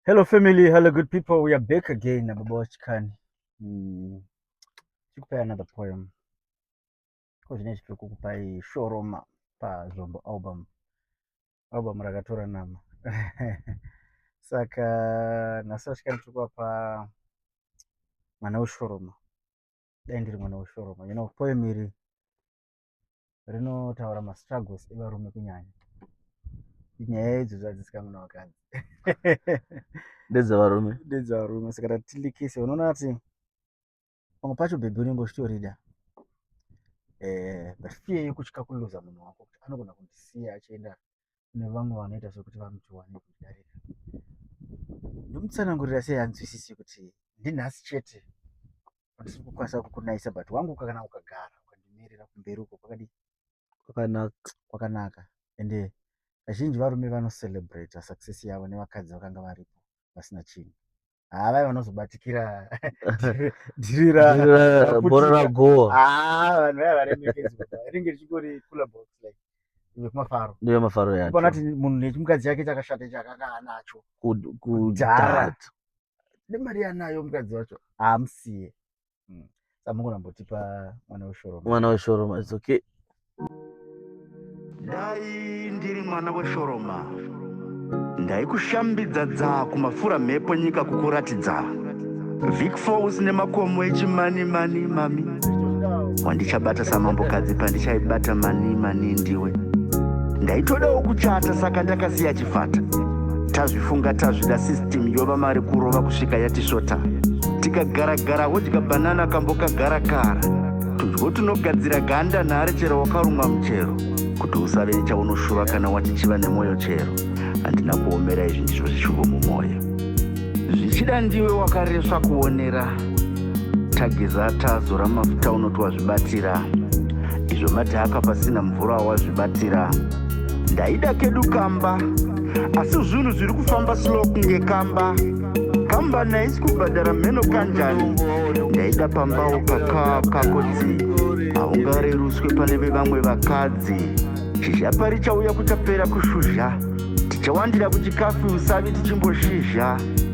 Hello family, hello good people. We are back again na Baba Wachikani. Mm. Chikupai another poem. Ko zvine chipiri kukupai Shoroma pa Zombo album. Album rakatora nama. Saka nhasi Wachikani tiri kuapa mwana weshoroma. Dai ndiri mwana weshoroma. You know poem iri rinotaura mastruggles evarume kunyanya nyaya idzo zvadzisikanguna vakadzi ndedzevarume ndedzevarume saka tatilikise unoona kuti pamwe pacho bhebhi unenge uchitorida um eh, but fear yekutya kuluza munhu wako kuti anogona kundisiya achienda kune vamwe vanoita sekuti vanotiwa nekudarika ndimutsanangurira sei anzwisisi kuti ndinhasi chete andisi kukwanisa kukunaisa but wangu kana ukagara ukandimirira kumberi uko kwakadi kwakanaka kwakanaka ende kazhinji varume vanocelebrata success yavo nevakadzi vakanga varipo vasina chinhu haa vaya vanozobatikira dhiri rabhora ragowa haa vanhu vaya varemekedzwa rinenge richingori cooler box like yekumafaro ndeyemafaro yacho pona kuti munhu nechimukadzi yake chakashata ichi akanga anacho kudhara nemari yanayo mukadzi wacho haamusiye mm. samukona mbotipa mwana weshoroma mwana weshoroma it's okay dai ndiri mwana weshoroma ndaikushambidza dzaa kumafura mhepo nyika kukuratidza vic falls nemakomo echimani mani mami wandichabata samambokadzi pandichaibata mani mani ndiwe ndaitodawo kuchata saka ndakasiya yechipata tazvifunga tazvida system yova mari kurova kusvika yatisvota tikagara gara wodya banana kambo kagara kara tudyo tunogadzira ganda nhare chero wakarumwa muchero kuti usave nechaunoshuva kana wati chiva nemwoyo chero handina kuomera izvi ndizvo zvishuvo mumwoyo zvichida ndiwe wakaresva kuonera tageza tazora mafuta unoti wazvibatira izvo madhaka pasina mvura wazvibatira ndaida kedu kamba asi zvinhu zviri kufamba slow kunge kamba kamba naisi kubhadhara mheno kanjani ndaida pambawo kakaa kako dzi haungareruswe pane vevamwe vakadzi zhizha pari chauya kuchapera kushuzha tichawandira kuchikafi usavi tichimboshisha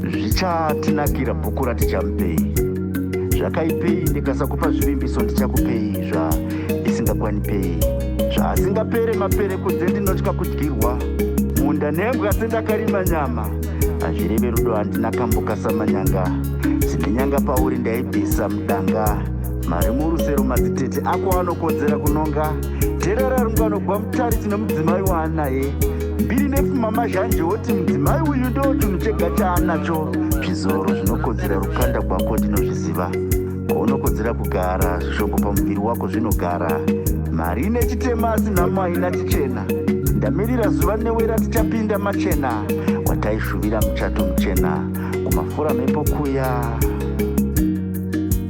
Zvichatinakira bhuku ratichamupei. Zvakaipei ndikasakupa zvivimbiso ndichakupei zva isingakwanipei. Zvaasingapere mapere kunze ndinotya kudyirwa. Munda nembwa sendakarima nyama. Hazvireve rudo handina kambuka samanyanga. Dzine nyanga pauri ndaibvisa mudanga. Mari murusero madzitete ako anokodzera kunonga. Terera runganogwa mutari tine mudzimai waanaye. mbiri nepfuma mazhanje woti mudzimai uyu ndo chinhu chega chaanacho zvizoro zvinokodzera rukanda gwako ndinozviziva kwaunokodzera kugara zvishongo pamuviri wako zvinogara mari ine chitema asi nhamo haina chichena ndamirira zuva newera tichapinda machena wataishuvira muchato muchena kumafura mhepo kuya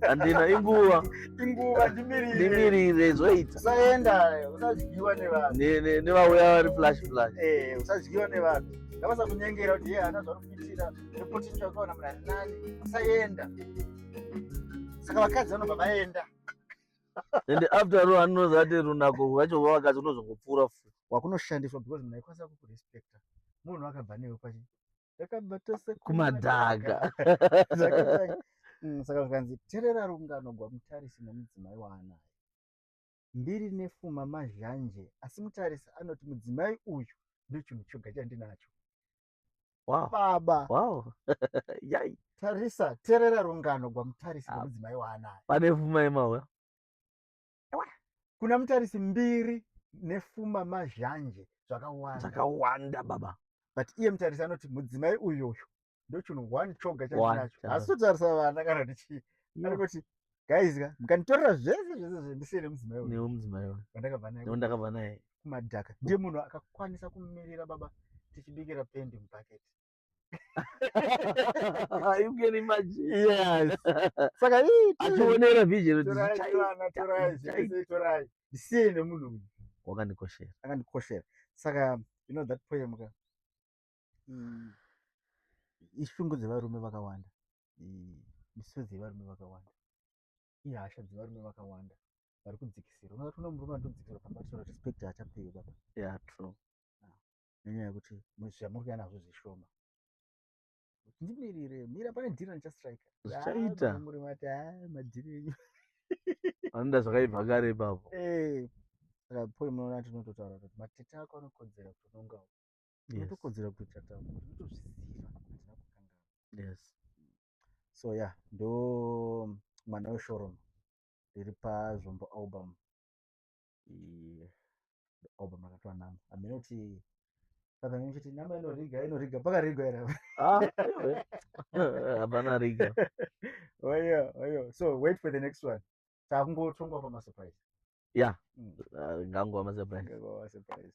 handina inguva inguva ndimirire ndimirire zvoita usaenda usadyiwa nevanhu Ne- ne- nevauya vari flash flash Eh, usadyiwa nevanhu ngavasa kunyengera kuti ye hana zvauri kuitira repotisha ukaona mrari nani usaenda saka vakadzi vanobva vaenda and after all anonozi ati runako rwacho rwavakadzi unozongopfuura futi wakunoshandiswa because munhu aikwanisa kukurespecta munhu akabva newe kwachi takabva tose kumadhaka mm, saka zvikanzi terera rungano gwamutarisi nomudzimai waanayo ndiri nefuma mazhanje asi mutarisi anoti mudzimai uyu ndochinhu choga chandinacho wow. baba wow. yai tarisa terera rungano gwamutarisi ah. nomudzimai waanayo pane fuma yemauya kuna mutarisi mbiri nefuma mazhanje zvakawanda zvakawanda baba but iye mutarisi anoti mudzimai uyu uyu ndochinhu one choga chaacho asi totarisa vana kana kuti chii ari kuti guys ka mukanditorera zvese zvese zvendisiye nemudzimai uyu nemudzimai uyu wandakabva naye wandakabva naye kumadhaka ndiye munhu akakwanisa kumirira baba tichibikira pendi mubhaketi you can imagine yes saka hii achionera vision ndisiye nemunhu wakandikoshera akandikoshera saka you know that poem ka mm. ishungu dzevarume vakawanda misodzi yevarume vakawanda ihasha dzevarume vakawanda vari kudzikisira unoona murume anotodzikisira pamba respect haachapiwi baba yeah true nenyaya yekuti zvamuri kuya nazvo zvishoma ndimirire mira pane dhiri randichastrika zvichaita muri mati ha ah, madhiri enyu vanoda zvakaibva kare ipapo eh, saka poi munoona tinototaura kuti matete ako anokodzera kutonongawo inotokodzera kuita tauro inotozviziva hatina kukangana yes so ya yeah, ndo mwana weshoromo riri pazvombo album obva makatwa namba hameno kuti saka nyuchi kuti namba inoriga inoriga pakarigwa here Ah, hapana riga oyo oyo Oh, so wait for the next one takungotongwa pamasurprise ya Mm. ah, ngangu amasurprise Ngekuwa surprise